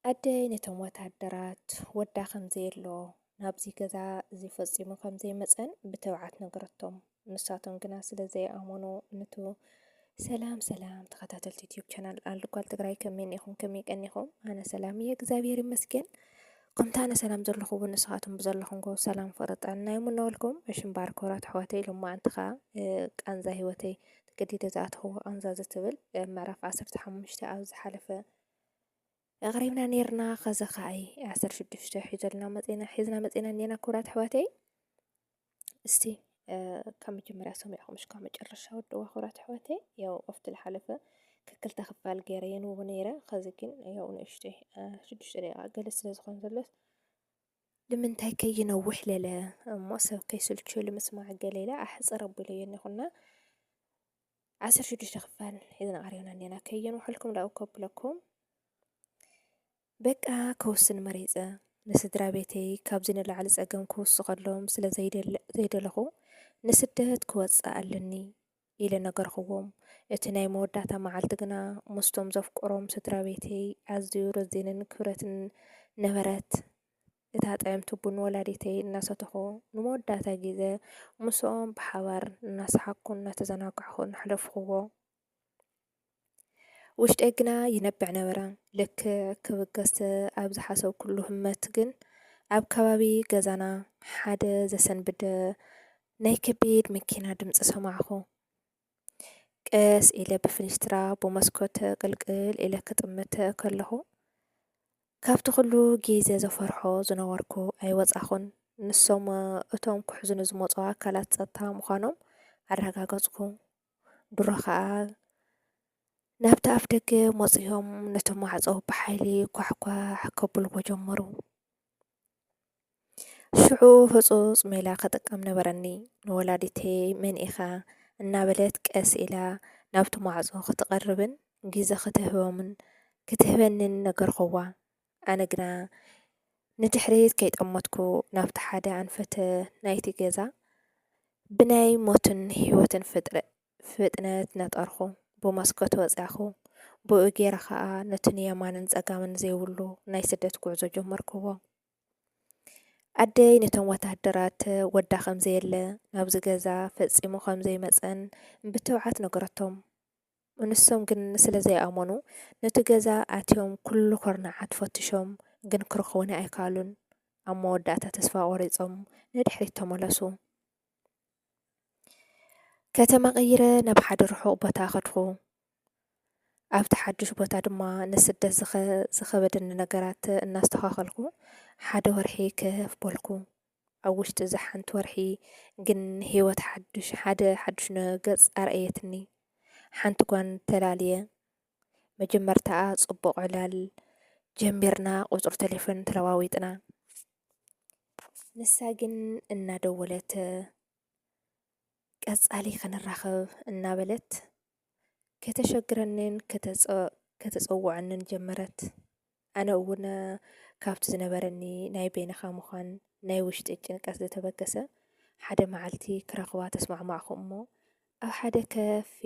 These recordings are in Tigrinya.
ኣደይ ነቶም ወታደራት ወዳ ከም ዘየሎ ናብዚ ገዛ እዚ ፈጺሙ ከም ዘይመጸን ብተብዓት ነገረቶም። ንሳቶም ግና ስለ ዘይኣመኑ ንቱ ሰላም ሰላም ተኸታተልቲ ዩትዩብ ቻናል ኣልጓል ትግራይ ከመይ እኒኹም ከመይ ቀኒኹም ኣነ ሰላም እየ እግዚኣብሔር ይመስገን ከምቲ ኣነ ሰላም ዘለኹ እውን ንስኻትኩም ብዘለኹምኮ ሰላም ፍቅሪ ጥዕና ይምነወልኩም እሽምባር ኮራት ኣሕዋተይ ሎማ እንተኻ ቃንዛ ሂወተይ ተገዲደ ዝኣተኹዎ ቃንዛ ዝትብል ምዕራፍ ዓሰርተ ሓሙሽተ ኣብ ዝሓለፈ ኣቕሪብና ነርና ከዚ ከኣ ዓሰርተ ሽዱሽተ ሒዘልና መጺና ሒዝና መጺና እኔና ክቡራት ኣሕዋተይ እስቲ ካብ መጀመርያ ሰሚዕኹም እስካብ መጨረሻ ወደዋ ክቡራት ኣሕዋተይ ያው ኣብቲ ዝሓለፈ ክክልተ ክፋል ገይረ የንብቦ ነይረ ከዚ ግን ያው ንእሽተይ ሽዱሽተ ደቂቃ ገለ ስለ ዝኾነ ዘሎስ ልምንታይ ከይነውሕ ለለ እሞ ሰብ ከይስልቹ ልምስማዕ ገለ ኢለ ኣሕጽር ኣቢለዮ እኒኹና ዓሰርተ ሽዱሽተ ክፋል ሒዝና ቀሪብና እኒና ከየንውሐልኩም ዳኡ ከብለኩም በቃ ከውስን መሪጸ ንስድራ ቤተይ ካብዚ ንላዕሊ ጸገም ክውስኸሎም ስለ ዘይደለኹ ንስደት ክወጽእ ኣለኒ ኢለ ነገርክዎም። እቲ ናይ መወዳእታ መዓልቲ ግና ምስቶም ዘፍቅሮም ስድራቤተይ ኣዝዩ ረዚንን ክብረትን ነበረት። እታ ጥዕምቲ ቡን ወላዲተይ እናሰተኹ ንመወዳእታ ግዘ ምስኦም ብሓባር እናሰሓቅኩን እናተዘናጋዕኩን ኣሕለፍክዎ። ውሽጠይ ግና ይነብዕ ነበረ። ልክዕ ክብገስ ኣብ ዝሓሰብኩሉ ህመት ግን ኣብ ከባቢ ገዛና ሓደ ዘሰንብድ ናይ ከቢድ መኪና ድምፂ ሰማዕኹ። ቀስ ኢለ ብፍንጅትራ ብመስኮት ቅልቅል ኢለ ክጥምት ከለኹ ካብቲ ኩሉ ግዜ ዘፈርሖ ዝነበርኩ ኣይወፃኹን። ንሶም እቶም ክሕዙኒ ዝመፁ ኣካላት ፀጥታ ምዃኖም ኣረጋገፅኩ። ድሮ ኸኣ ናብቲ ኣፍ ደገ መጺኦም ነቲ ማዕጾ ብሓይሊ ኳሕኳሕ ከብልዎ ጀመሩ። ሽዑ ህጹጽ ሜላ ክጥቀም ነበረኒ። ንወላዲተይ መን ኢኻ እናበለት ቀስ ኢላ ናብቲ ማዕጾ ክትቐርብን ግዜ ክትህቦምን ክትህበንን ነገርክዋ። ኣነ ግና ንድሕሪት ከይጠመትኩ ናብቲ ሓደ ኣንፈት ናይቲ ገዛ ብናይ ሞትን ህይወትን ፍጥረ ፍጥነት ነጠርኩ። ብመስኮት ወጻኹ። ብኡ ጌረ ከኣ ነቲ ንየማንን ጸጋምን ዘይብሉ ናይ ስደት ጉዕዞ ጀመርክዎ። ኣደይ ነቶም ወተሃደራት ወዳ ከም ዘየለ ናብዚ ገዛ ፈጺሙ ከም ዘይመጸን ብትብዓት ነገረቶም። ንሶም ግን ስለ ዘይኣመኑ ኑቲ ገዛ ኣትዮም ኩሉ ኩርናዓት ፈትሾም ግን ክረኽቡኒ ኣይከኣሉን። ኣብ መወዳእታ ተስፋ ቆሪጾም ንድሕሪት ተመለሱ። ከተማ ቀይረ ናብ ሓደ ርሑቕ ቦታ ከድኹ። ኣብቲ ሓዱሽ ቦታ ድማ ንስደት ዝኸበደኒ ነገራት እናስተኻኸልኩ ሓደ ወርሒ ክህፍ በልኩ። ኣብ ውሽጢ እዛ ሓንቲ ወርሒ ግን ህይወት ሓዱሽ ሓደ ሓዱሽ ነ ገጽ ኣርኣየትኒ። ሓንቲ ጓል ተላልየ። መጀመርታኣ ጽቡቕ ዕላል ጀሚርና ቁጽሪ ቴሌፎን ተለዋዊጥና። ንሳ ግን እናደወለት ቀጻሊ ክንራኸብ እናበለት ከተሸግረንን ከተጸውዐንን ጀመረት። ኣነ እውን ካብቲ ዝነበረኒ ናይ በይንኻ ምዃን ናይ ውሽጢ ጭንቀት ዝተበገሰ ሓደ መዓልቲ ክረኽባ ተስማዕማዕኹ እሞ ኣብ ሓደ ከፊ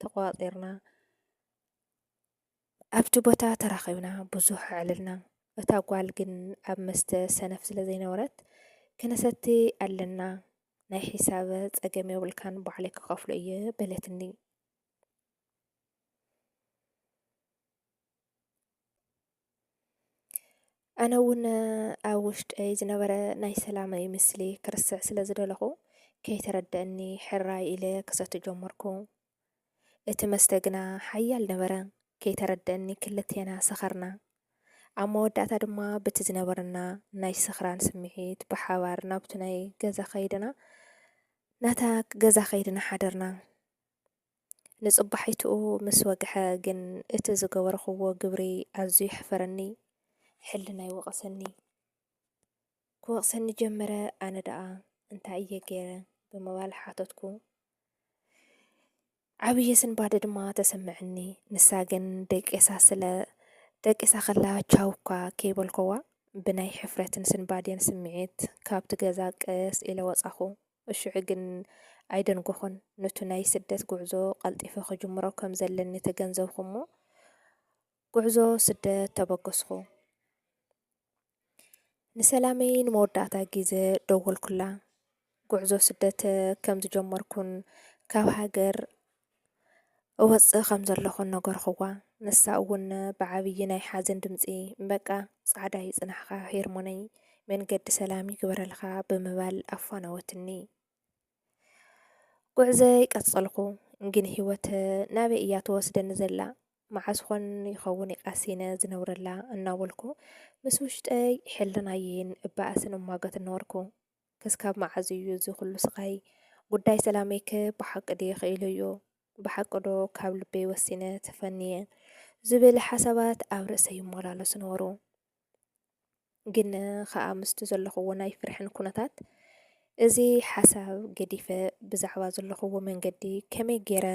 ተቋፂርና ኣብቲ ቦታ ተራኺብና ብዙሕ ኣዕልልና እታ ጓል ግን ኣብ መስተ ሰነፍ ስለ ዘይነበረት ክነሰቲ ኣለና ናይ ሒሳብ ጸገም የብልካን ባዕለይ ክኸፍሎ እየ በለትኒ። ኣነ እውን ኣብ ውሽጠይ ዝነበረ ናይ ሰላመይ ምስሊ ክርስዕ ስለ ዝደለኹ ከይተረደአኒ ሕራይ ኢለ ክሰቱ ጀመርኩ። እቲ መስተ ግና ሓያል ነበረ። ከይተረደአኒ ክልቴና ሰኸርና። ኣብ መወዳእታ ድማ በቲ ዝነበረና ናይ ስኽራን ስምዒት ብሓባር ናብቲ ናይ ገዛ ከይድና ናታ ገዛ ከይድና ሓደርና። ንጽባሒትኡ ምስ ወግሐ ግን እቲ ዝገበርኹዎ ግብሪ ኣዝዩ የሕፈረኒ። ሕልናይ ወቐሰኒ። ክወቕሰኒ ጀመረ፣ ኣነ ደኣ እንታይ እየ ገይረ? ብምባል ሓተትኩ። ዓብዪ ስንባደ ድማ ተሰመዐኒ። ንሳ ግን ደቂሳ ስለ ደቂሳ ከላ ቻው እኳ ከይበልኩዋ ብናይ ሕፍረትን ስንባዴን ስምዒት ካብቲ ገዛ ቀስ ኢለ ወጻኹ። እሹዑ ግን ኣይደንጎኹን፣ ኑቲ ናይ ስደት ጉዕዞ ቀልጢፈ ክጅምሮ ከም ዘለኒ ተገንዘብኩ'ሞ ጉዕዞ ስደት ተበገስኩ። ንሰላመይ ንመወዳእታ ግዘ ደወልኩላ። ጉዕዞ ስደት ከም ዝጀመርኩን ካብ ሃገር እወጽእ ከም ዘለኹ ነገርኹዋ። ንሳ እውን ብዓብዪ ናይ ሓዘን ድምጺ፣ በቃ ጻዕዳ ይጽናሕካ ሄርሞነይ፣ መንገዲ ሰላም ይግበረልካ ብምባል ኣፋነወትኒ። ጉዕዘይ ቀጸልኩ። ግን ህይወት ናበይ እያ ትወስደኒ ዘላ? መዓስ ኾን ይኸውን ቃሲነ ዝነብረላ እናበልኩ ምስ ውሽጠይ ሕልናየይን እባእስን እሟገት ነበርኩ። ክስካብ መዓዝ እዩ እዚ ኩሉ ስቃይ ጉዳይ ሰላመይ ከ ብሓቂ ድየ ክኢለዮ ብሓቂ ዶ ካብ ልበይ ወሲነ ተፈንየ ዝብል ሓሳባት ኣብ ርእሰይ ይመላለሱ ነበሩ ግን ከኣ ምስቲ ዘለኹዎ ናይ ፍርሕን ኩነታት እዚ ሓሳብ ገዲፈ ብዛዕባ ዘለኹዎ መንገዲ ከመይ ገይረ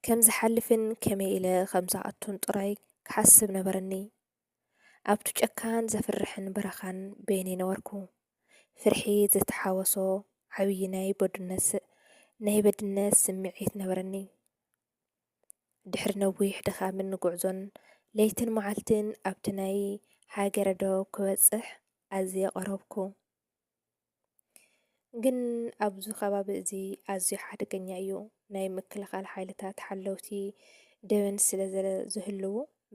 ከም ዝሓልፍን ከመይ ኢለ ከም ዝኣቱን ጥራይ ክሓስብ ነበረኒ ኣብቱ ጨካን ዘፍርሕን በረኻን በይነይ ነበርኩ። ፍርሒ ዘተሓወሶ ዓብዪ ናይ በዱነት ናይ በድነት ስምዒት ነበረኒ። ድሕሪ ነዊሕ ድኻምን ጉዕዞን ለይትን መዓልትን ኣብቲ ናይ ሃገረ ዶብ ክበጽሕ ኣዝየ ቐረብኩ። ግን ኣብዚ ከባቢ እዚ ኣዝዩ ሓደገኛ እዩ። ናይ ምክልኻል ሓይልታት ሓለውቲ ደበን ስለ ዝህልዉ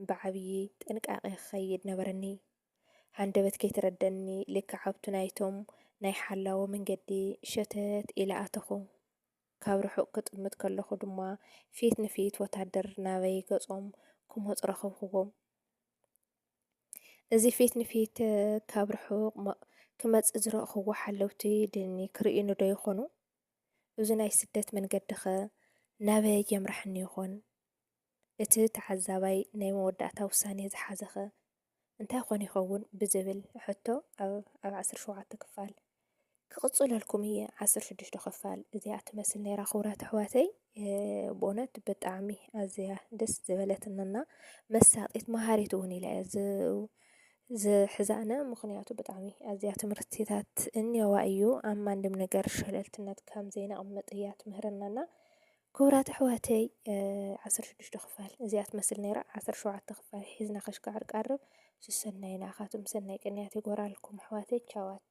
ብዓብዪ ጥንቃቐ ክኸይድ ነበረኒ። ሃንደበት ከይተረደኒ ልክዕ ኣብቱ ናይቶም ናይ ሓላዎ መንገዲ ሸተት ኢለ ኣተኹ። ካብ ርሑቕ ክጥምት ከለኹ ድማ ፊት ንፊት ወታደር ናበይ ገጾም ክመፁ ረኸብክዎም። እዚ ፊት ንፊት ካብ ርሑቕ ክመጽእ ዝረእኽዎ ሓለውቲ ድኒ ክርእዩኒ ዶ ይኾኑ? እዚ ናይ ስደት መንገዲኸ ናበይ የምራሕኒ ይኾን? እቲ ተዓዛባይ ናይ መወዳእታ ውሳኔ ዝሓዘኸ እንታይ ኮን ይኸውን ብዝብል ሕቶ ኣብ ዓሰርተ ሸውዓተ ክፋል ክቕጽለልኩም እየ ዓሰርተ ሽዱሽተ ክፋል እዚኣ ትመስል ነይራ ክቡራት ኣሕዋተይ ብእውነት ብጣዕሚ ኣዝያ ደስ ዝበለትንና መሳጢት መሃሪት እውን ኢላ እያ ዝሕዛነ ምክንያቱ ብጣዕሚ ኣዝያ ትምህርትታት እንየዋ እዩ ኣብ ማንም ነገር ሸለልትነት ከም ዘይነቕምጥ እያ ትምህረናና ክቡራት ኣሕዋተይ ዓሰርተ ሽዱሽተ ክፋል እዚኣ ትመስል ነይራ ዓሰርተ ሸውዓተ ክፋል ሒዝና ከሽካዕር ቀርብ ስሰናይ ንኣኻትኩም ሰናይ ቅንያት ይጎራልኩም ኣሕዋተይ ቻዋት